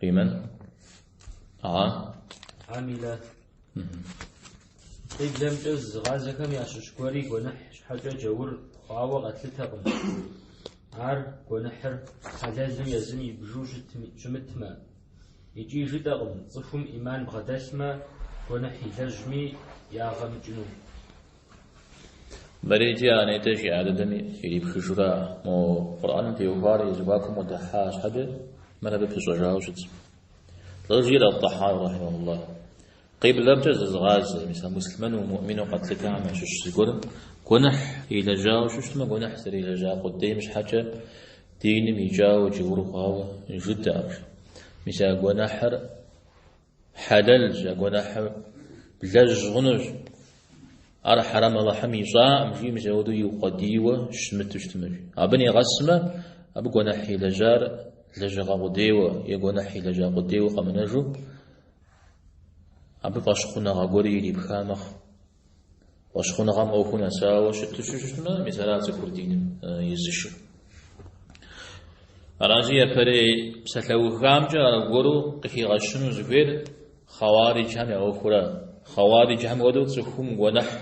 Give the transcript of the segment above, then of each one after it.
Лимэн амилэ. Къиблэмкӏэ зызыгъазэхэм ящыщ гуэри гуэныхь щхьэкӏэ джаур хъуауэ къэтлъытэкъым. Ар, гуэныхьыр, хьэлэлу езым ибжу щымытмэ, икӏи жытӏэкъым цӏыхум ӏиман бгъэдэлъмэ, гуэныхь илэжьми ягъэ мыкӏыну. Мэреджи анэйтэ жи адэдэм ирипхыжра, мо Къурӏаным теухуар зэхуакум къыдэхьа щхьэкӏэ мыр абы пыщӏэжауэ щытщ. Жеӏэр Ат-Тӏахьауи рахьимахуллахь. Къиблэмкӏэ зызыгъазэ, мис а муслъымэну, муӏмину къэтлъытахэм ящыщ зыгуэрым гуэныхь илэжьауэ щыщтмэ, гуэныхь зэрилэжьа къудейм щхьэкӏэ диным икӏауэ джаур хъуауэ жытӏэкъым, мис а гуэныхьыр Хьэлэлщ, а гуэныхьыр блэжь хъунущ. Ар хьэрэм Алыхьым ищӏакъым, жи мис апхуэдэу иукъуэдийуэ щымыту щытмэщ. Абы нэгъэсмэ, абы гуэныхь илэжьар лэжьыгъэ къудейуэ е гуэныхь илэжьа къудейуэ къэмынэжу, абы фӏэщхъуныгъэ гуэри ирипха мэхъу. Фӏэщхъуныгъэм ӏуэхур нэсауэ щыту щытмэ, мис ара цӏыхур диным изышыр. Аращи япэрей псалъэухамкӏэ аргуэру къыхигъэщыну зыхуейр хъэуариджхэм я ӏуэхура? Хъэуариджхэм хуэдэу цӏыхум гуэныхь,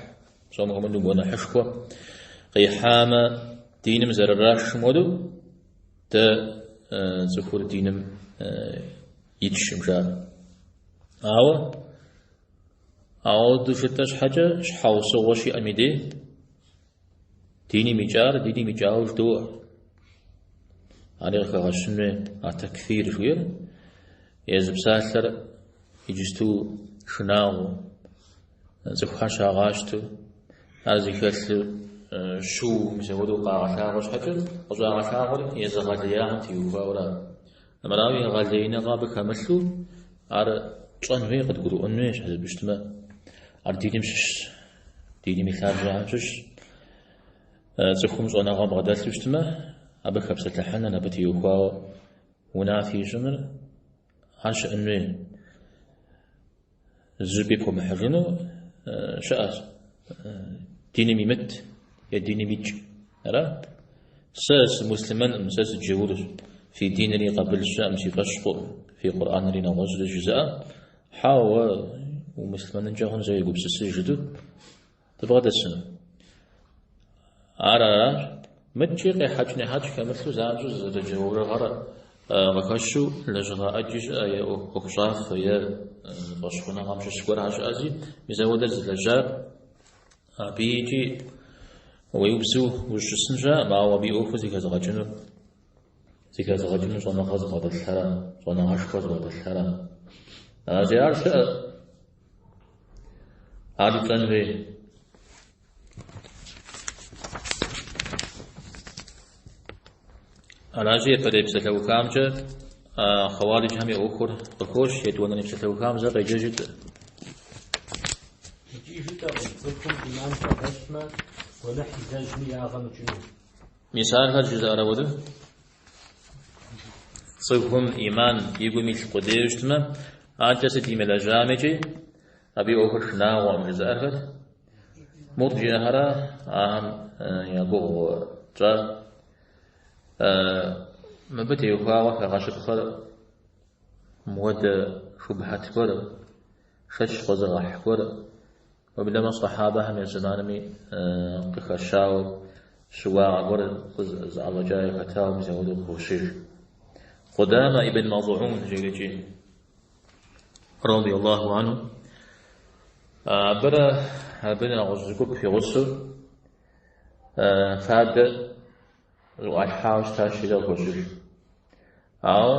псом хуэмыдэу гуэныхьышхуэ къихьамэ, диным зэрырашым хуэдэу, дэ цӏыхур диным итшкъым, жаӏэ. Ауэ Апхуэдэу жытӏэ щхьэкӏэ щхьэусыгъуэ щиӏэм и дей, диним икӏар диним икӏауэ жыдоӏэ. Ари къыхэгъэщын хуей а такфир жиӏэр езы псалъэр иджысту шынагъуэу, цӏыхухэр щагъащтэу, ар зыхэлъыр щыу мис апхуэдэу къагъэлъагъуэ щхьэкӏэ, къыщӏагъэлъагъуэр езыгъэлеяхэм теухуауэ ара? Мырауи, егъэлеиныгъэ абы хэмылъу, ар тщӏэн хуей, къыдгурыӏуэн хуей, щхьэ жыпӏэу щытмэ, ар диным щыщщ, диным и лъабжьэхэм щыщщ. Цӏыхум щӏэныгъэ бгъэдэлъу щытмэ, абы хэпсэлъыхьыныр, абы теухуауэ унафи ищӏыныр, ар щыӏэн хуей. Зыщӏыпӏи пхуэмыхьыжыну щыӏэщ диным имыт е диным икӏ. Ара? Сэ сымуслъымэнкъым, сэ сыджэурщ. Фи динри къабыл сщӏыӏым си фӏэщ хъуӏым, фи Къурӏэнри нэгъуэщӏри жызыӏэ. Хьэуэ, уэ умуслъымэнынкӏэ хъун, зэ егупсысыж жытӏэу. Дыбгъэдэсыну. Ар аращ, мыдкӏи къехьэкӏ нехьэкӏ хэмылъу занщӏэу зэрыджаурыгъэр къыхэщу лэжьыгъэ ӏэджи щыӏэ е ӏуэхущӏафэ е фӏэщхъуныгъэм щыщ гуэрхэр щыӏэщи, мис ауэдэр зылэжьар абы икӏи уеубзыу ущысын щыӏэкъым, ауэ абы и ӏуэхур зэхэзыгъэкӏынур зэхэзыгъэкӏынур щӏэныгъэ зыбгъэдэлъхэра, щӏэныгъэшхуэ зыбгъэдэлъхэра. Ар зи ар щыӏэщ. Ар итӏэн хуей. Аращи, япэрей псалъэухамкӏэ хъэуариджхэм и ӏуэхур къыхощ, етӏуанэ и псалъэухам зэ къеджэжыт. Икӏи жытӏэркъым, цӏыхум ӏиман щӏэгъэщӏмэ, гуэныхь илэжьми ягъэ мыкӏыну. Мис ахэр жызыӏэрэ уэрым? Цӏыхум ӏиман и гум илъ къудейуэ щытмэ, адэкӏэ сыт имылэжьам икӏи абы и ӏуэхур шынагъуэкъым жызыӏэр хэт? Мурджиӏэхэра, ахэм я гугъу тщӏа? Мыбы теухуауэ хэгъэщыпхъэр мыуэдэ шубхьэт гуэр, шэч къозэгъэхь гуэр, Мыбдэмэ сэхьабэхэм я зэманми къыхэщауэ щыуагъэ гуэр зыӏэщӏэкӏа яхэтауэ мис ауэдэу къыхощыж. Къудамэ ибн Мазгӏун жерикӏи, радий Аллаху анху, абырэ абы нэгъуэщӏ зы гуп игъусэу фадэ зыӏуалъхьауэ щытащ, езыр къыхощыж. Ауэ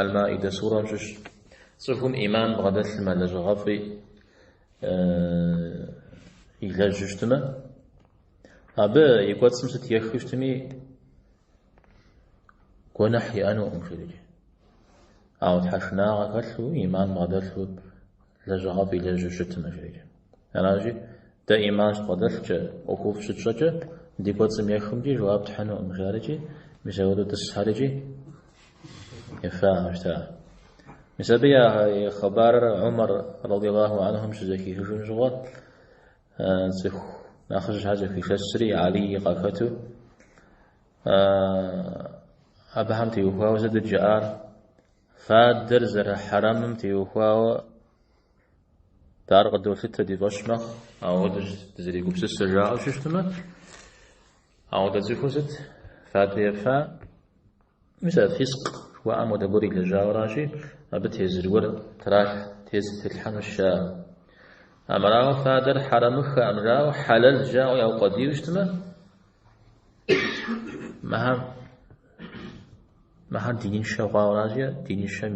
Аль-Маидэ сурэм щыщ цӏыхум ӏиман бгъэдэлъымэ, лэжьыгъэфӏи илэжьу щытымэ, абы и кӏуэцӏым сыт ехыу щытми, гуэныхь иӏэнукъым жерикӏи. Ауэ тхьэшынагъэ хэлъу, ӏиман бгъэдэлъу, лэжьыгъэфӏ илэжьу щытымэ жерикӏи. Аращи, дэ ӏиман щыдбгъэдэлъкӏэ, ӏуэхуфӏ щытщӏэкӏэ, ди кӏуэцӏым ехымкӏи жэуап тхьынукъым, жарикӏи, мис апхуэдэу тӏысхэрикӏи ефахэу щыта. Мис абы я хъыбарыр Умар радиаллаху анхум щызэхихыжым щыгъуэ, цӏыху нэхъыщхьэ зэхуишэсри, Алий къахэту, абыхэм теухуауэ сытыт жиӏар? Фадэр зэрыхьэрэмым теухуауэ Дэ ар къыдолъытэ ди фӏэщ мэхъу, ауэдэщ дызэрегупсысыр жаӏэу щыщтмэ, ауэдэ цӏыхур сыт? Фадэ ефа? Мис а фискъ жыхуаӏэм уэдэ гуэр илэжьауэращи, абы тезыр гуэр тралъ тезыр тетлъхьэнущ, жаӏэ. Армырауэ, фадэр хьэрэмыххэӏым жаӏэу, хьэлэл жаӏэу яукъуэдийуэ щытмэ, Мыхьэм мыхьэм диныншэ хъуауэращи, диныншэм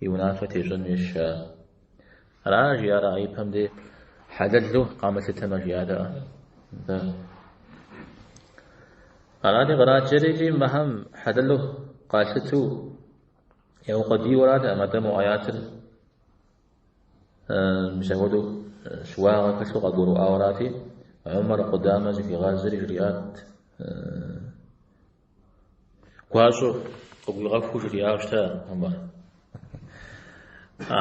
и унафэ тещӏэн хуейщ. Ара жиӏара ипэм де хьэлэлу къамылъытэмэ жиӏарэ. Арати къраджэрикӏи мыхьэм хьэлэлу къалъыту яукъуэдийуэрат а Мадэму аятыр. Мис апхуэдэу щыуагъэ хэлъу къагурыӏуауэрати, Умар Къудамэ зыхуигъазэри жриӏат, гуащӏэу къыгуигъэхуу жриӏауэ щыта Умар. А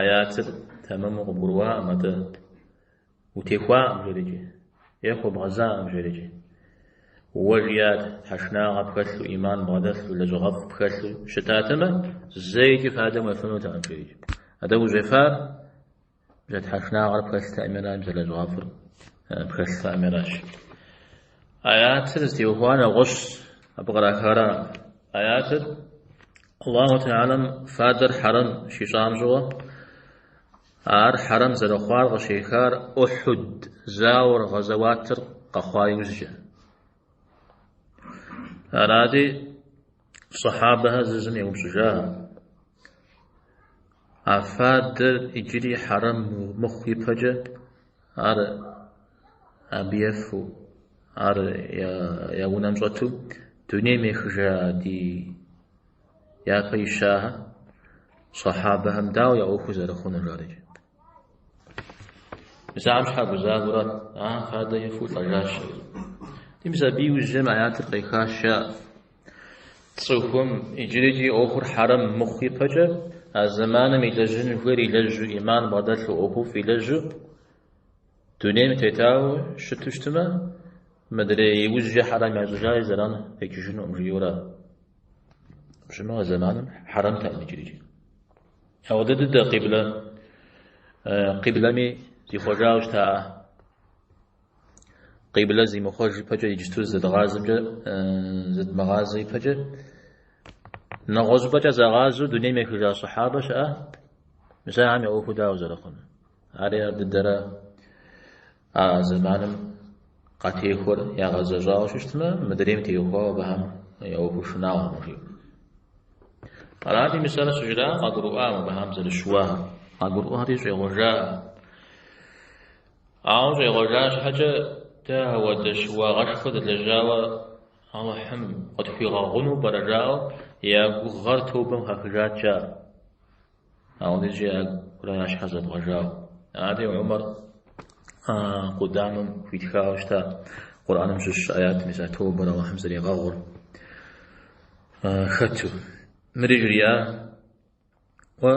аятыр тэмэму къыбгурыӏуакъым атӏэ. Утехуакъым, жерэкӏи. Ехъу, бгъэзакъым, жерэкӏи. Уэ, жиӏат, тхьэшынагъэ пхэлъу, ӏиман бгъэдэлъу, лэжьыгъэфӏ пхэлъу щытатэмэ, зэикӏи фадэм уефынутэкъым, жерэкӏи. Атӏэ ущӏефар бжэ тхьэшынагъэр пхэлътэӏымера бзэ лэжьыгъэфӏыр пхэлътэӏымеращ. Аятыр зытеухуар нэгъуэщӏщ, абы кърахара аятыр Аллаху Тэхьэлам фадэр хьэрэм щищӏам щыгъуэ, Ар хьэрэм зэрыхъуар къыщехар Ухьуд зауэр гъэзэуатыр къэхъуа иужькӏэ. Арати, сахьабэхэр зызым еупщӏыжахэ, А фадэр иджыри хьэрэм мыхъу ипэкӏэ ар абы ефэу, ар я унэм щӏэту дунейм ехыжа ди Япэ ищахэ сахьабэхэм дауэ я ӏуэхур зэрыхъунур жаӏэрикӏи, мис ахьэм щхьэ гузавэурат, а фадэ ефэу лӏэжащ. Арати мис абы иужьым аятыр къехащ, а цӏыхум иджырикӏи ӏуэхур хьэрэм мыхъу ипэкӏэ, а зэманым илэжьын хуейр илэжьу, ӏиман бгъэдэлъу, ӏуэхуфӏ илэжьу, Дунейм тетауэ щыту щытмэ, мыдрей иужькӏэ хьэрэм ящӏыжаи зэран къикӏыжынукъым жиӏэурэ. Пщымэ а зэманым хьэрэмтэкъым иджырикӏи. Ауэдэ дыдэ къиблэ къиблэми зихъуэжауэ щытаӏэ. Къиблэ зимыхъуэж ипэкӏэ иджыту зэдгъазэмкӏэ зэдмыгъазэ ипэкӏэ нэгъуэщӏыпӏэкӏэ загъазэу дунейм ехыжа сахьабэ щыӏэ, мис ахьэм я ӏуэхуу дауэ зэрыхъунур? Ари ар дыдэра а зэманым къатехуэр ягъэзэщӏауэ щыщытмэ, мыдрейм теухуауэ абыхэм я ӏуэхур шынагъуэкъым жиӏэу. Арати мисалэ щыжраӏэм къагурыӏуа абыхэм зэрыщыуар, къагурыӏуэри щӏегъуэжа. Ауэ щӏегъуэжа щхьэкӏэ дэ ауэдэ щыуагъэшхуэ дэлэжьауэ Алыхьым къытхуигъэгъуну пӏэрэ жаӏэу я гугъэр тобэм хахыжат жаӏэ. Ауэ иджы ягурэ ар щхьэ зэбгъэжауэ? Ари Умар Къудамэм хуитхауэ щыта Къурӏаным щыщ аят мис а тобэр Аллахьым зэригъэгъур хэту. Мыри жриӏа уэ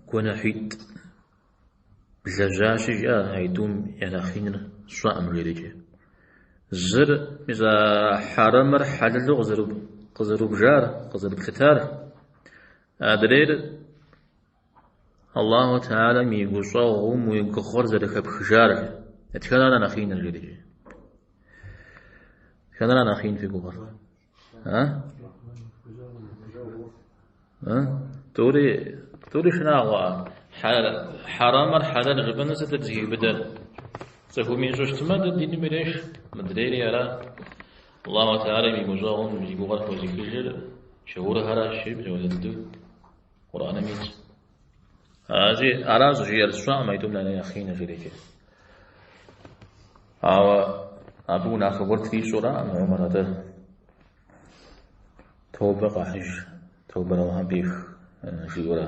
гуэныхьитӏ блэжьащи жиӏа аитӏум я нэхъ иныр сщӏэкъым жиӏэрикӏи. Зыр мис а хьэрэмыр хьэлэлу къызэрубжар, къызэрыплъытар Адрейр Аллаху Теалэм и гущӏэгъум уи гугъэр зэрыхэпхыжар. Дэтхэнэ ара нэхъ иныр жиӏэри? Дэтхэнэ ара нэхъ ин фи гугъэр? А? А? Тӏури, тӏури шынагъуэ. Хьэрэмыр хьэлэл жыпӏэну сыт дызыхиубыдэр? Цӏыхум ищӏыщтмэ, дэ диным иреш, мыдрейри ара? Аллаху Теалэм и гущӏэгъум зи гугъэр хэзыхыжыр джаурхэращ, жиӏэм щӏалэ дыдэу Къурӏэным итщ. Ази аращ жиӏэр, сщӏэкъым аитӏум я нэхъ иныр жиӏэрикӏи. Ауэ абы унафэ гуэр трищӏуракъым Умар атӏэ. Тобэ къахьыж, тобэр Аллахьым пӏех жиӏэурэ.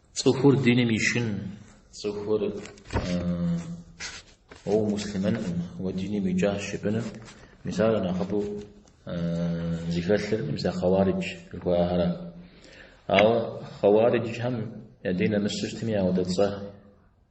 Цӏыхур диным ишын, цӏыхур уэ умуслъымэнкъым, уэ диным уикӏащ жыпӏэну, мис ар нэхъыбэу зыхэлъыр, мис а хъэуаридж жыхуаӏэхэра. Ауэ хъэуариджхэм я дин нэмысщӏыщтми ауэдэ цӏэ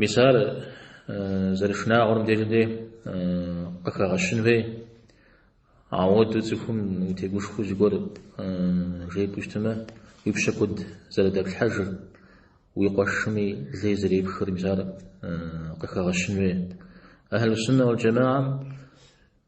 Мис ар зэрышынагъуэр мыдежи дэ къыхэгъэщын хуей. Ауэдэу цӏыхум утегушхуэу зыгуэр жепӏэу щытмэ, уи пщэ куэд зэрыдэплъхьэжыр, уи къуэшми лей зэрепхыр, мис ар къыхэгъэщын хуей. Ахьэлу-суннэ уал-джэмаӏэм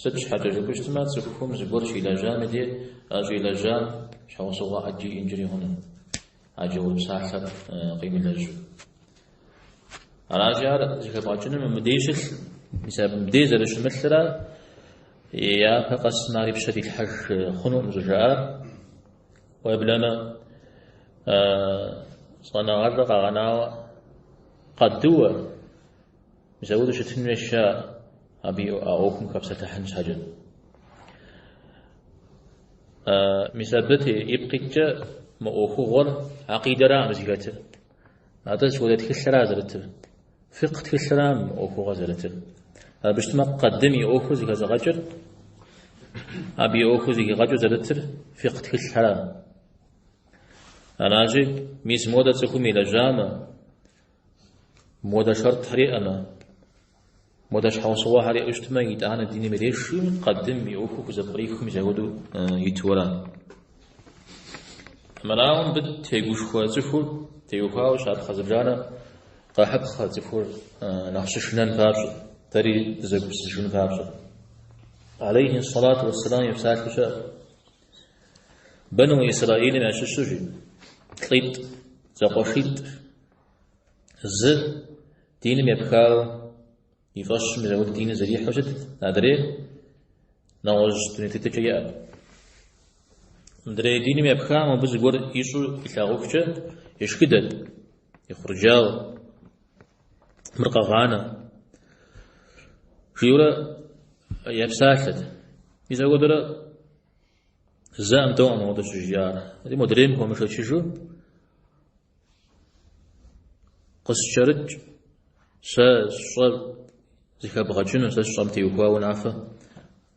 Сыт щхьэкӏэ жыпӏэщтмэ, цӏыхум зыгуэр щилэжьам и дей а щӏилэжьам щхьэусыгъуэ ӏэджи иӏэнкӏэри хъуну, а джаур псалъэр къимылэжьу. Аращи, ар зыхэбгъэкӏыным мыбдей щылъ, мис абы мыбдей зэрыщымылърэ япэ къэсым ар и пщэ дилъхьэж хъунукъым щӏыжаӏар. Уеблэмэ, щӏэныгъэлӏыр къэгъэнауэ къадыуэ Мис ауэдэу щытын хуейщ ар, абы а ӏуэхум хэпсэлъыхьын щхьэкӏэ. Мис абы ипкъ иткӏэ мы ӏуэхугъуэр акъидэраӏым зыхэтыр. Атӏэ сыт хуэдэ тхылъра зэрытыр? Фикъ тхылърам мы ӏуэхугъуэр зэрытыр. Абы щытмэ, къадым и ӏуэхур зыхэзыгъэкӏыр, абы и ӏуэхур зыхигъэкӏыу зэрытыр фикъ тхылъхэрам. Аращи, мис модэ цӏыхум илэжьамэ, Модэ шэртхэр иӏэмэ, модэ щхьэусыгъуэхэр иӏэу щытмэ, итӏанэ диным иреши, къэдым и ӏуэхур хузэпкърихы мизэуэду итуэра? Мырауэ мыбы тегушхуэ цӏыхур теухуауэ щапхъэ зыбжанэ къэхьыпхъэ цӏыхур нэхъ щышынэн папщӏэ, дэри дызэгупсысыжын папщӏэ. Алейхи салат уассалам и псалъэу щыӏэ. Бэну Исраилым ящыщу жи, лӏитӏ, зэкъуэшитӏ, зы диным епхау и фӏэщу мизэуэду диныр зэрихьу щытт, адрейр нэгъуэщӏ дуней тетыкӏэ иӏэт. Мыдрей диным епхам мобы зыгуэр ищӏу илъагъухкӏэ ешхыдэт, ехъурджауэ. Мыр къэгъанэ, жиӏэурэ епсалъэт. Мизэуэдурэ зэкъым, тӏэукъым ауэдэ щыжиӏар. Ди модрейм хуэмышэчыжу къыскӏэрыкӏ сэ сщӏэр зыхэбгъэкӏыну, сэ сщӏэм теухуа унафэ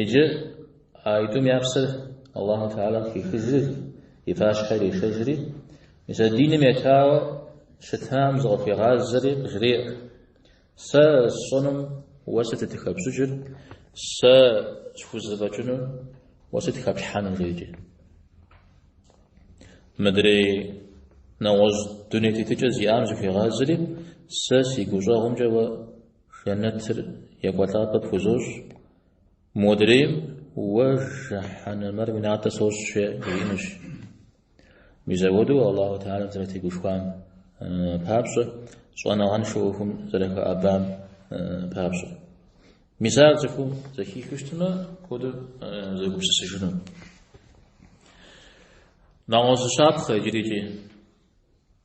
Иджы а итӏум я псэр Аллаху Теалэ къыхихыжри, и пащхьэ ирешэжри, мис а диным етауэ щытам зыкъыхуигъазэри, къыжреӏэ, Сэ сщӏэнум уэ сытыт хэпщӏыкӏыр, сэ схузэфӏэкӏынум уэ сыт хэплъхьэнур, жиӏэкӏэ. Мыдрей нэгъуэщӏ дуней тетыкӏэ зиӏам зыхуигъазэри, Сэ си гущӏэгъумкӏэ уэ Жэнэтыр екӏуэлӏапӏэ пхузощӏ. Модрейм уэ жыхьэнэмэр уи натӏэ сощӏ жриӏэнущ. Мизэуэду Аллаху Теалэм зэрытегушхуам папщӏэ, щӏэныгъэншэу ӏуэхум зэрыхэӏэбам папщӏэ. Мис ар цӏыхум зэхихыу щытмэ, куэду зэгупсысыжыну. Нэгъуэщӏ зы щапхъэ иджырикӏи.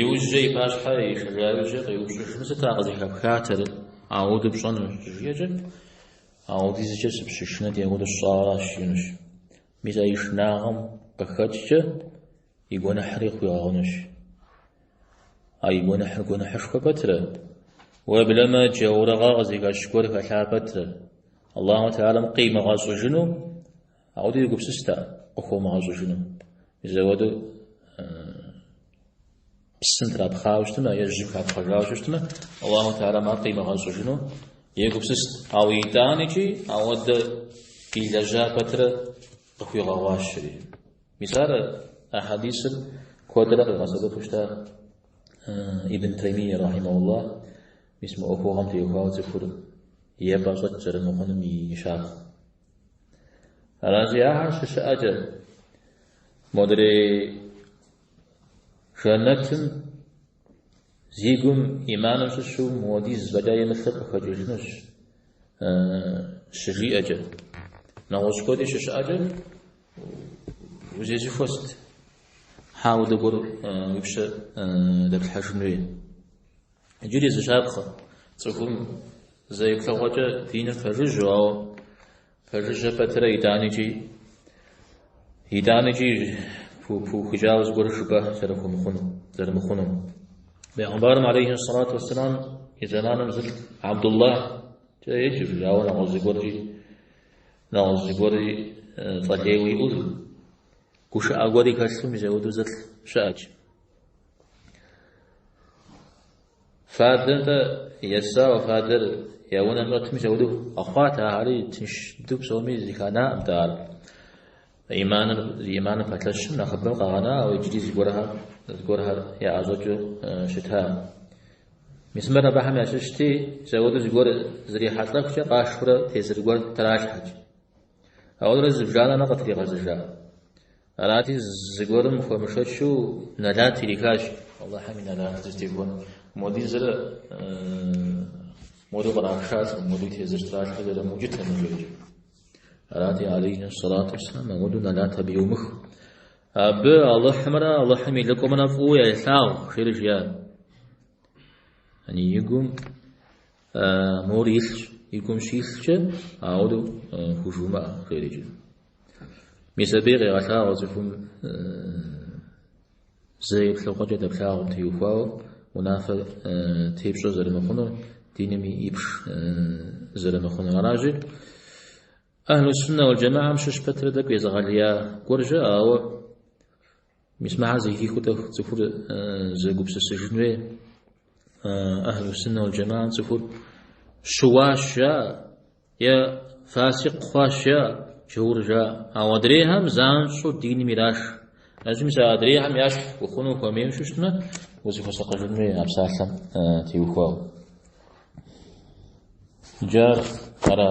Иужькӏэ и пащхьэ ишэжа ужькӏэ къеупщӏыжыну, Сыт а къызыхэпхатэр ауэду пщӏэну, жиӏэкӏэ, ауэдизкӏэ сыпщышынэти ауэдэу сщӏауэращ, жиӏэнущ. Мис а и шынагъэм къыхэкӏкӏэ и гуэныхьри хуигъэгъунущ. А и гуэныхьыр гуэныхьышхуэ пэтрэ? Уеблэмэ, джаурыгъэ къызыхэщ гуэр хэлъа пэтрэ? Аллаху Теалэм къимыгъэщӏыжыну Ауэдэу егупсыст ар къыхуэмыгъэщӏыжыну. Мизэуэду псым трапхъауэ щытмэ, е жьым хапхъэжауэ щытмэ, Аллаху Теалэм ар къимыгъэщӏыжыну егупсыст. Ауэ итӏаникӏи ауэдэ илэжьа пэтрэ къыхуигъэгъуащри. Мис ар а хьэдисыр куэдрэ къигъэсэбэпу щыта Ибн Таймия рахьимахуллах, мис мы ӏуэхугъуэм теухуауэ цӏыхур епӏэщӏэкӏ зэрымыхъунум и щапхъэ. Аращи, ахэр щыщыӏэкӏэ модрей жэнэтым зи гум иманым щыщу муэдиз фӏэкӏа имылъыр къыхэкӏыжынущ щыжиӏэкӏэ. Нэгъуэщӏ куэди щыщыӏэкӏэ узезыхуэст хьэ удыгуэр уи пщэ дэплъхьэжын хуей. Иджыри зы щапхъэ цӏыхум зэ еплъыгъуэкӏэ диным пэжыжьэу, ауэ пэжыжьэ пэтырэ итӏаныкӏи, итӏаныкӏи пыухыкӏауэ зыгуэру жыпӏэ зэрыхумыхъуну, зэрымыхъуну. Бегъымбарым алейхи салату вассалам и зэманым зы лӏы Абдуллахькӏэ еджэу, ауэ нэгъуэщӏ зыгуэркӏи нэгъуэщӏ зыгуэркӏи цӏэ лейуэ иӏэу, гушыӏэ гуэри хэлъу мис зэудэу зы лӏы щыӏэкӏ. Фадэр-тӏэ есауэ, фадэр я унэм щӏэтми зэуду къэхъуат, ахьэри тынш дыдэу псоми зыханаӏымтэ ар. Иманыр, зи иманыр пэлъэщым нэхъыбэм къагъэна, ауэ иджыри зыгуэрхэр, зыгуэрхэр яӏэщӏэкӏыу щыта. Мис мыр абыхэм ящыщти, зэуду зыгуэр зрихьэлӏэхукӏэ къашурэ тезыр гуэр тралъхьэкӏ. Ауэрэ зыбжанэрэ къытригъэзэжа. Арати, зыгуэрым хуэмышэчу Нэлат ирихащ. Аллахьэм и Нэлат зытехуэн модизрэ моду кърашалӏэм, моду тезыр тралъхьэр зэрымыукӏытэ мыжеджэ. Арати, алейхи салату вассалам, ауэду Нэлат абы иумых. Абы Аллахьымрэ Аллахьым и лӏыкӏуэмрэ фӏыуэ елъагъу, жери жиӏа. Яни и гум Мор илъщ, и гум щилъкӏэ, ауэдэу хужумыӏэ, жери жиӏа. Мис абыи къегъэлъагъуэ цӏыхум зэ еплъыгъуэкӏэ дэплъагъум теухуауэ унафэ тепщӏэ зэрымыхъунур, диными ипш зэрымыхъунур. Аращи, Ахьлу-суннэ уэль-джамэхьэм щыщ пэтрэ тӏэкӏу езыгъэлия гуэржэ, ауэ Мис мыхьэр зэхихыу тӏэкӏу цӏыхур зэгупсысыжын хуей Ахьлу Сунна уал Джамаа цӏыхур щыуащ жа е фасикъ хъуащ жа джаур жа ауэ адрейхэм занщӏэу диным ираш. Ащми сэ адрейхэм ящхь ухъуну хуэмейуэ щыщтмэ узыхуэсакъыжын хуей а псалъэм теухуауэ. Джар ара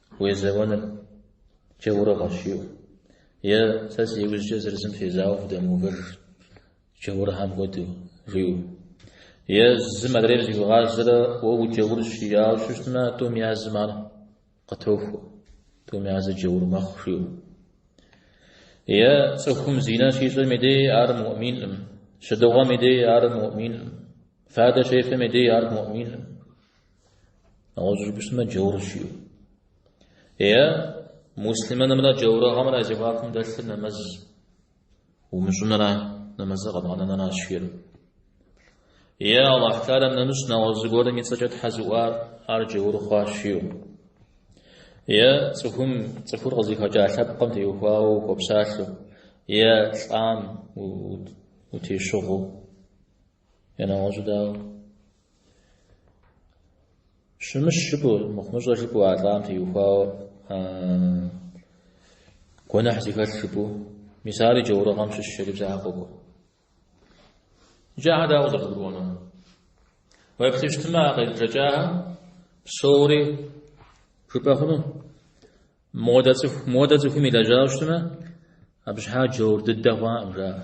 Уезэуэныр джаурыгъэщ, жиӏэу. Е, Сэ си иужькӏэ зыр зым фезауэу фыдэмыувэж, джаурхьэм хуэдэу, жиӏэу. Е, Зым адрейм зыхуигъазэрэ уэ уджаурщ, жиӏауэ щыщтмэ, тӏум я зым ар къытохуэ, тӏум я зы джаур мэхъу, жиӏэу. Е, Цӏыхум зинэ щищӏэм и дей ар муӏминкъым, щыдыгъуэм и дей ар муӏминкъым, фадэ щефэм и дей ар муӏминкъым. Нэгъуэщӏ жыпӏэщтмэ джаур жиӏэу. Е муслиманымрэ джаурыгъэмрэ зэхуакум дэлъыр нэмэз умыщӏынра нэмэзыр къэбгъэнэнра жиӏэр. Е Аллахь Таалэм нэмыщӏ нэгъуэщӏ зыгуэрым и цӏэкӏэ Тхьэ зыӏуар ар джаур хъуа жиӏэу. Е цӏыхум цӏыхур къызыхэкӏа лъэпкъым теухуауэ ухуэпсалъэу, е лӏам утещыгъыу. Е нэгъуэщӏу дауэ? Щымыщ жыпӏэу, мыхъумыщӏэ жыпӏэу а лӏам теухуауэ гуэныхь зыхэлъ жыпӏэу, мис ари джаурыгъэм щыщ жери псалъэ къокӏуэ. Иджы ахьэр дауэ къызэрыгурыӏуэнур? Уеплъыщтмэ, а къезбжэкӏахэм псори жыпӏэ хъуну? Модэ цӏыху, модэ цӏыхум илэжьауэ щытмэ, абы щхьа джаур дыдэ хъуакъым, жаӏэ.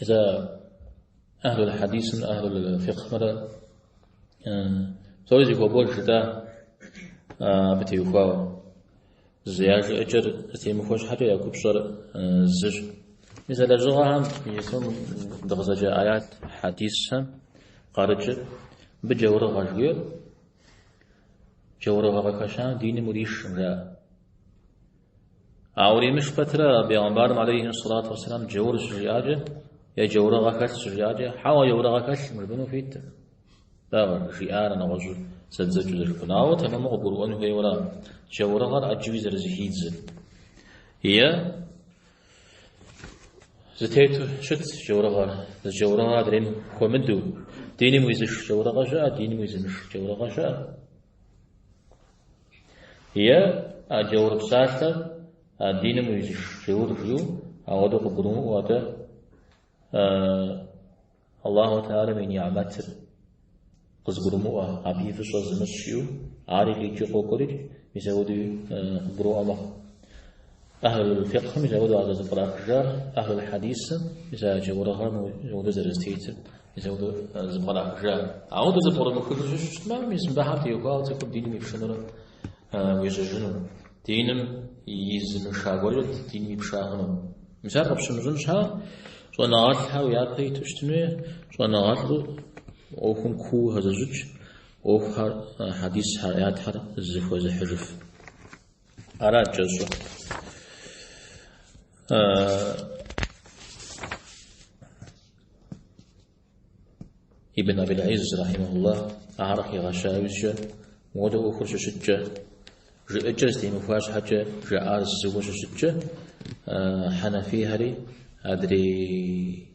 Ита ахлул хадисымрэ ахлул фикхмэрэ псори зыхуэкӏуэж жытӏа абы теухуауэ. Зы я жыӏэкӏэр зэтемыхуэ щхьэкӏэ я купщӏэр зыщ. Мис а лэжьыгъэхэм иджыпсту дыкъызэджа аят хьэдисхэм къарыкӏыр мыбы джаурыгъэ жиӏэр, джаурыгъэ къыхэщам диным уришкъым жаӏэ. Ауэ уримыш пэтрэ Бегъымбарым алейхи салату вассалам джаур щыжиӏакӏэ е джаурыгъэ хэлъ щыжиӏакӏэ, хьэуэ джаурыгъэ хэлъкъым жыпӏэну хуитэ. Дауэ жиӏар нэгъуэщӏу зэдзэкӏыу зэрыхъун. Ауэ тэмэму къыгурыӏуэн хуейуэра джаурыгъэр ӏэджэуи зэрызыхидзыр? Е зэтету щыт джаурыгъэр, зы джаурыгъэр адрейм хуэмыдэу, диным уизыш джаурыгъэ щыӏэ, диным уизымыш джаурыгъэ щыӏэ. Е а Джаур псалъэр а диным уизыш Джаур жиӏэу ауэдэу къыгурымыӏуэу атӏэ Аллаху Теалэм и ни'мэтыр къызгурымыӏуэ, абы и фӏыщӏэ зымыщӏ жиӏэу, ари къикӏи къокӏуэрикӏ, мис апхуэдэуи къыбгурыӏуэ мэхъу. Ахьлул фикъхым мис ауэдэу зэрызэпкърахыжар Ахьлул хьэдисым мис а джаурыгъэм мис ауэдэу зэрызэтетыр, мис ауэдэу зэрызэпкърахыжар. Ауэдэу зэпкърыумыхыжу щыщытмэ, мис мыбы ахьэр теухуауэ цӏыхур диным ипшынурэ уежьэжыну, диным изымыша гуэркӏэ диным ипша хъуну. Мис ар къыпщымыщӏын щхьа щӏэныгъэлӏхэр уи япэ иту щытын хуей, щӏэныгъэлӏу ӏуэхум куу хэзыщӏыкӏ, ӏуэхухэр, хьэдисхэр, аятхэр зыхуэзыхьыжыф. Арат кӏэщӏыр. Ибн Абил Изз рахимахуллах ар къигъэщауищэ модэ ӏуэхур щыщыткӏэ жыӏэкӏэр зэтемыхуа щхьэкӏэ жаӏар зыуэ щыщыткӏэ Хьэнафийхэри адрей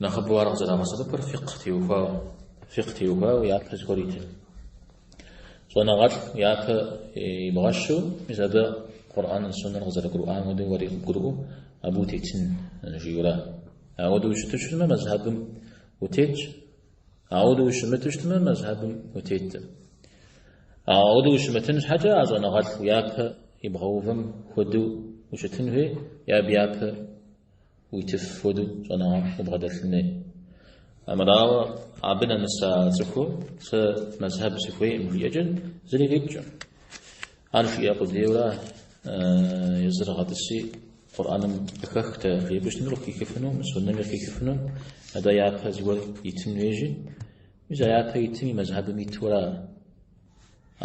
Нэхъыбэу ар къызэрагъэсэбэпыр фикъ теухуауэ, фикъ теухуауэ япэ зыгуэр итын. Щӏэныгъэлӏ япэ ибгъэщу, мис абы Къурӏэныр, Суннэр къызэрыгурыӏуам хуэдэу уэри къыбгурыӏуэу абы утетын жиӏэу ара. Ауэду ущыту щытмэ, мэзхьэбым утетщ, ауэду ущымыту щытмэ, мэзхьэбым утетэ. Ауэду ущымытын щхьэкӏэ а щӏэныгъэлӏ япэ ибгъэувэм хуэдэу ущытын хуей, е абы япэ Уитыф хуэдэу щӏэныгъэлӏ къыбгъэдэлъын хуей. Амырауэ, абы нэмыс а цӏыхур сэ мэзхьэб сыхуейкъым жиӏэкӏэ зыри къикӏкъым. Ар жиӏэ къудейуэ ара, езыр гъэтӏыси Къурӏэным къыхэхтэ, жепӏэу щытми къыхихыфыну, суннэми къыхихыфыну, атӏэ япэ зыгуэр итын хуейщи, мис а япэ итым и мэзхьэбым иту ара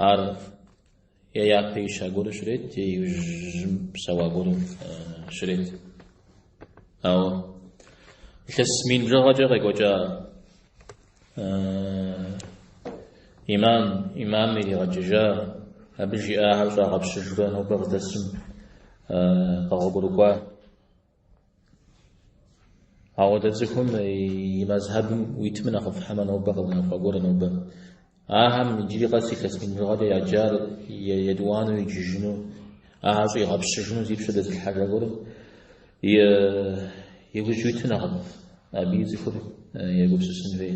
ар Е япэ ища гуэру щрет, е иужьым псэуа гуэру щрет. Ауэ илъэс мин бжыгъэкӏэ къекӏуэкӏа имам, имам иригъэкӏыжа, абы жиӏахэр щӏагъэпщыжурэ нобэ къыдэсым къэгъуэгурыкӏуа. Ауэдэ цӏыхум и мэзхьэбым уитмэ нэхъыфӏ хьэмэ нобэ къэунэхуа гуэр нобэ. Ахэм иджыри къэс илъэс мин бжыгъэкӏэ яджар етӏуанэу иджыжыну, ахэр щӏигъэпщыжыну зи пщэ дэзылъхьэжа гуэрым и гужь уитмэ нэхъыфӏ, абы и цӏыхур егупсысын хуей.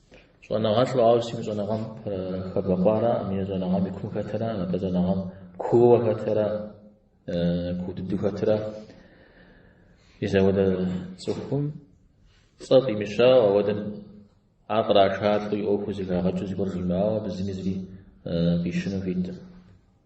Щӏэныгъэлӏу, ауэ сытми щӏэныгъэм хэбэкъуара, хьэмэ щӏэныгъэм и кум хэтыра, нобэ щӏэныгъэм кууэ хэтыра, куу дыдэу хэтыра. Мис ауэдэ цӏыхум цӏэ фӏимыщауэ, ауэдэм ар кърашалӏэу и ӏуэхур зэхагъэкӏыу зыгуэр жимыӏауэ, абы зыми зыри фӏищыну хуитым.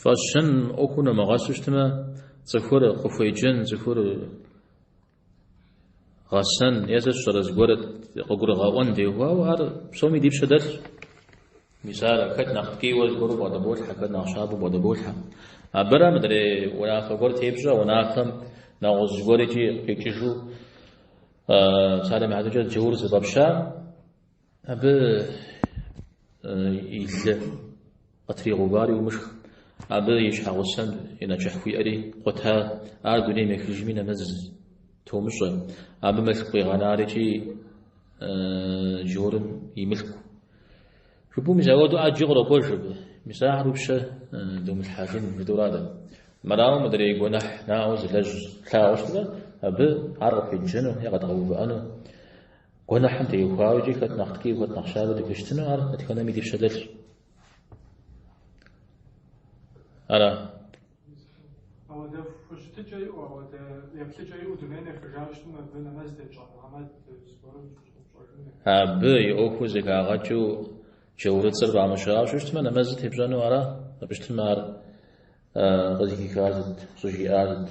Фӏэщын ӏуэхум нумыгъэсу щытмэ, цӏыхур къыхуеджэн, цӏыхур гъэсэн, е сэ сщӏэрэ зыгуэр къыгурыгъэӏуэн теухуауэ, ар псоми ди пщэ дэлъщ. Мисал хэт нэхъ ткӏийуэ гуэру бгъэдыболъхьэ, хэт нэхъ щабэу бгъэдыболъхьэ. Абыра мыдрей унафэ гуэр тепщӏэ, унафэм нэгъуэщӏ зыгуэр икӏи къикӏыжу псалъэм и хьэтыркӏэ джаур зыфӏэпща. Абы и лы къытригъэувар умышх, абы и щхьэгъусэм и нэчыхь хуиӏэри къута, ар дунейм ехыжми нэмэз томыщӏэ, абы мылъку къигъэнар икӏи джаурым и мылъку. Жыпӏэу мис ауэду ӏэджи къырокӏуэж абы, мис ахэр уи пщэ домылъхьэжын жытӏэу ара дэ. Мэрауэ мыдрей гуэнэхь наӏуэ зылэжь тлъагъуу щытмэ, абы ар къыхуеджэну е къэдгъэувыӏэну, Гуэныхьым теухуауэкӏи хэт нэхъ ткӏий, хэт нэхъ щабэ дыхущытыну ар дэтхэнэми ди пщэ дэлъщ. Ара? Ауэдэху хущытыкӏэ иӏу, ауэдэ еплъыкӏэ иӏэу дунейм ехыжауэ щытмэ абы нэмэз тетщӏэ Мухьэмэд зыгуэрым щӏыщӏыпщӏэжыныр. Абы и ӏуэхур зэхагъэкӏыу джаурыцӏэр фӏамыщауэ щыщытмэ, нэмэзыр тепщӏэну ара? Абы щытмэ ар къызыхихар сыт, щӏыжиӏар сыт?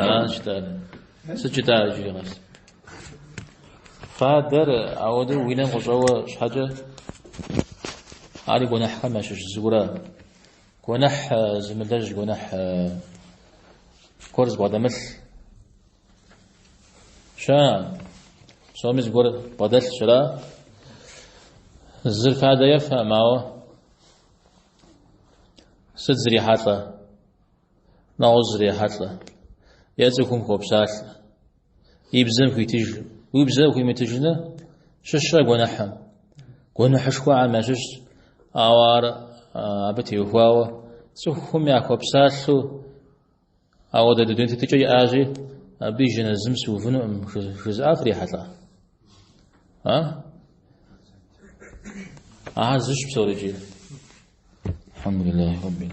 Аращ дадэ. Сыт жытӏа иджыри къэс? Фадэр ауэдэу уи нэм къыщӏэуэ щхьэкӏэ ар и гуэныхьхэм ящыщ зыуэ ара. Гуэныхь зымылэжь, гуэныхь гуэр зыбгъэдэмылъ щыӏэ? Псоми зыгуэр бгъэдэлъщ, ара? Зыр фадэ ефэмэ, ауэ Сыт зрихьэлӏэ? Нэгъуэщӏ зрихьэлӏэ. Е цӏыхум хуопсалъэ. И бзэм хуитыж. Уи бзэм хуимытыжыныр щыщэ гуэныхьым. Гуэныхьышхуэхэм ящыщщ, ауэ ар абы теухуауэ цӏыхум яхуэпсалъэу Ауэдэ дуней тетыкӏэ иӏащи, абы и жэназым сыувынукъым жызыӏа фрихьэлӏа? А? Ахэр зыщ псори икӏи. Алхьэмдулиллахи Раббил